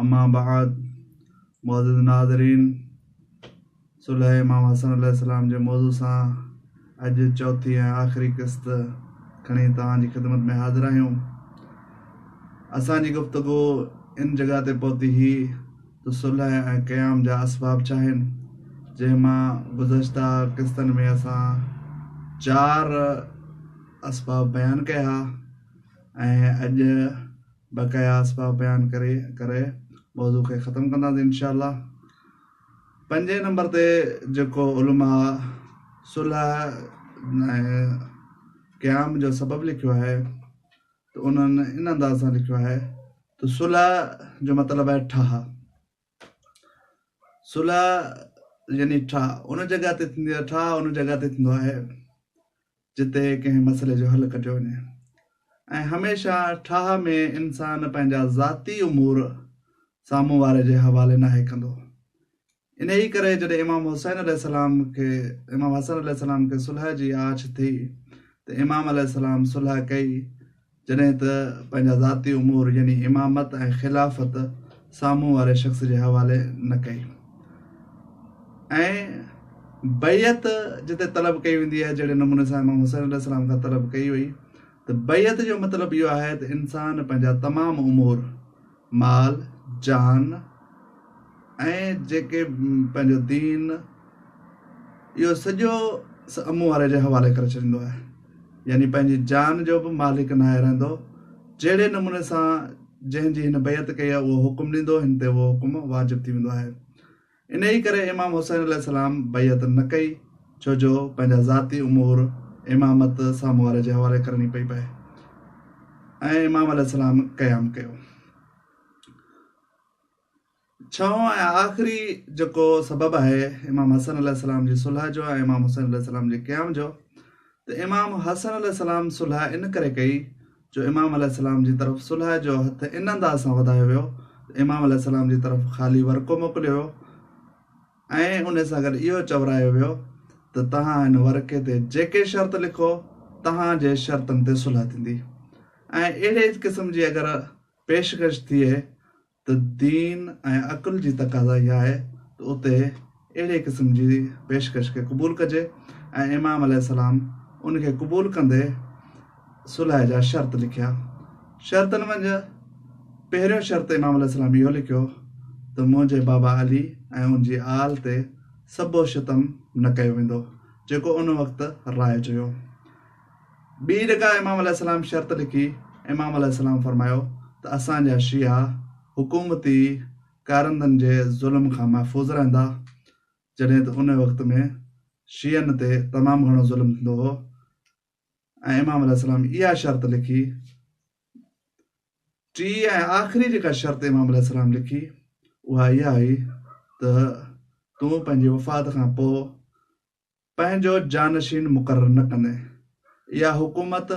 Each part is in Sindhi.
اما بعد معزز ناظرين صلح امام حسن عليه السلام جي موضوع سان اڄ چوٿين ۽ آخري قسط کڻي توهان جي خدمت ۾ حاضر آهيون اسان جي گفتگو ان جڳهه تي پهتي هي ته صلح ۽ قيام جا اسباب ڇا آهن جنهن مان گذشته قسطن ۾ اسان چار اسباب بيان ڪيا ها ۽ اڄ بقايا اسباب بيان ڪري ڪري موضوع کي ختم ڪنداسين انشاء الله پنجين نمبر تي جيڪو علماء صلح قيام جو سبب لکيو آهي ته انهن ان انداز سان لکيو آهي ته صلح جو مطلب آهي ٺاهه صلح يعني ٺاهه ان جڳهه تي ٿيندي آهي ٺاهه ان جڳهه تي ٿيندو آهي جتي ڪنهن مسئلي جو حل ڪڍيو وڃي ۽ هميشه ٺاهه ۾ انسان پنهنجا ذاتي امور سامهون واري جي حوالي ناهي ڪندو ان ئي ڪري جڏهن امام حسين عليه السلام کي امام حسن عليه السلام کي صلح جي آڇ ٿي ته امام عليه السلام صلح ڪئي جڏهن ته پنهنجا ذاتي امور يعني امامت ۽ خلافت سامهون واري شخص جي حوالي نه ڪئي ۽ بيعت جتي طلب ڪئي ويندي آهي جهڙي نموني سان امام حسين عليه السلام کان طلب ڪئي وئي ته بيعت جو مطلب اهو آهي ته انسان پنهنجا تمام امور مال، جان ۽ جيڪي پنهنجو دين اهو سڄو سامهون واري جي حوالي ڪري ڇڏيندو آهي يعني پنهنجي جان جو به مالڪ ناهي رهندو جهڙي نموني سان جنهن جي هن بيعت ڪئي آهي اهو حڪم ڏيندو هن تي اهو حڪم واجب ٿي ويندو آهي انهيء ڪري امام حسين عليه السلام بيعت نه ڪئي، ڇو جو پنهنجا ذاتي امور امامت سامهون واري جي حوالي ڪرڻي پئي پئي ۽ امام عليه السلام قيام ڪيو. ڇهون ۽ آخري جيڪو سبب آهي امام حسن عليه السلام جي صلح جو ۽ امام حسين عليه السلام جي قيام جو ته امام حسن عليه السلام صلح ان ڪري ڪئي جو امام عليه السلام جي طرف صلح جو هٿ ان انداز سان وڌايو ويو ته امام عليه السلام جي طرف خالي ورقو موڪليو ويو ۽ ان سان گڏ اهو چورايو ويو ته توهان هن ورقي تي جيڪي شرط لکو توهان جي شرطن تي صلح ٿيندي ۽ اهڙي قسم جي اگر پيشڪش ٿئي ته دين ۽ عقل جي تقاضا اها آهي ته اتي اهڙي قسم جي پيشڪش کي قبول ڪجي ۽ امام عليه السلام ان کي قبول ڪندي صلح جا شرط لکيا. شرطن منجهه پهريون شرط امام عليه السلام اهو لکيو ته منهنجي بابا علي ۽ ان جي آل تي سبو ستم نه ڪيو ويندو جيڪو ان وقت رائج هيو. ٻي جيڪا امام عليه السلام شرط لکي، امام عليه السلام فرمايو ته اسان جا شيعا حڪومتي ڪارندن جي ظلم کان محفوظ رهندا، جڏهن ته ان وقت ۾ شيعن تي تمام گهڻو ظلم ٿيندو هو ۽ امام عليه السلام اها شرط لکي، ٽي ۽ آخري جيڪا شرط امام عليه السلام لکي اها اها هئي ته تون پنهنجي وفات کان پوء پنهنجو جانشين مقرر نه ڪندي اها حڪومت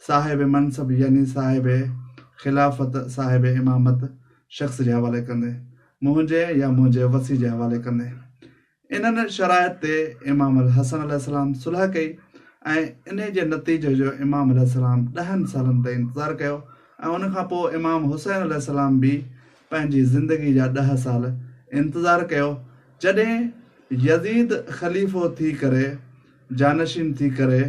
صاحب منصب يعني صاحب خلافت صاحب امامت شخص جي حوالي ڪندي منهنجي يا منهنجي وسي جي حوالي ڪندي انهن شرائط تي امام الحسن عليه السلام صلح ڪئي ۽ انهي جي نتيجي جو امام عليه السلام ڏهن سالن تائين انتظار ڪيو ۽ ان کان پوء امام حسين عليه السلام به پنهنجي زندگي جا ڏهه سال انتظار ڪيو جڏهن يزيد خليفو ٿي ڪري جانشين ٿي ڪري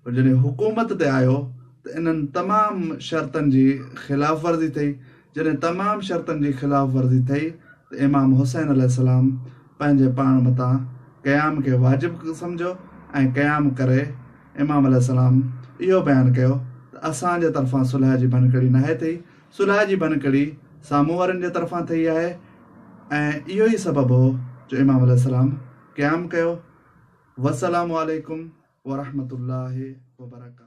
جڏهن حڪومت تي آيو ته انهن تمام شرطن جي خلاف ورزي ٿئي جڏهن تمام شرطن جي خلاف ورزي ٿئي ته امام حسين عليه السلام پنهنجي پاڻ متان قيام کي واجب سمجهيو ۽ قيام ڪري امام عليه السلام اهو بيان ڪيو ته اسان جي طرفان صلح جي ڀڃڪڙي ناهي ٿي صلح جي ڀڃڪڙي سامهون وارن جي طرفان ٿئي آهي ۽ اهو ئي سبب هو جو امام عليه السلام قيام ڪيو والسلام عليڪم ورحمة الله وبرڪاته.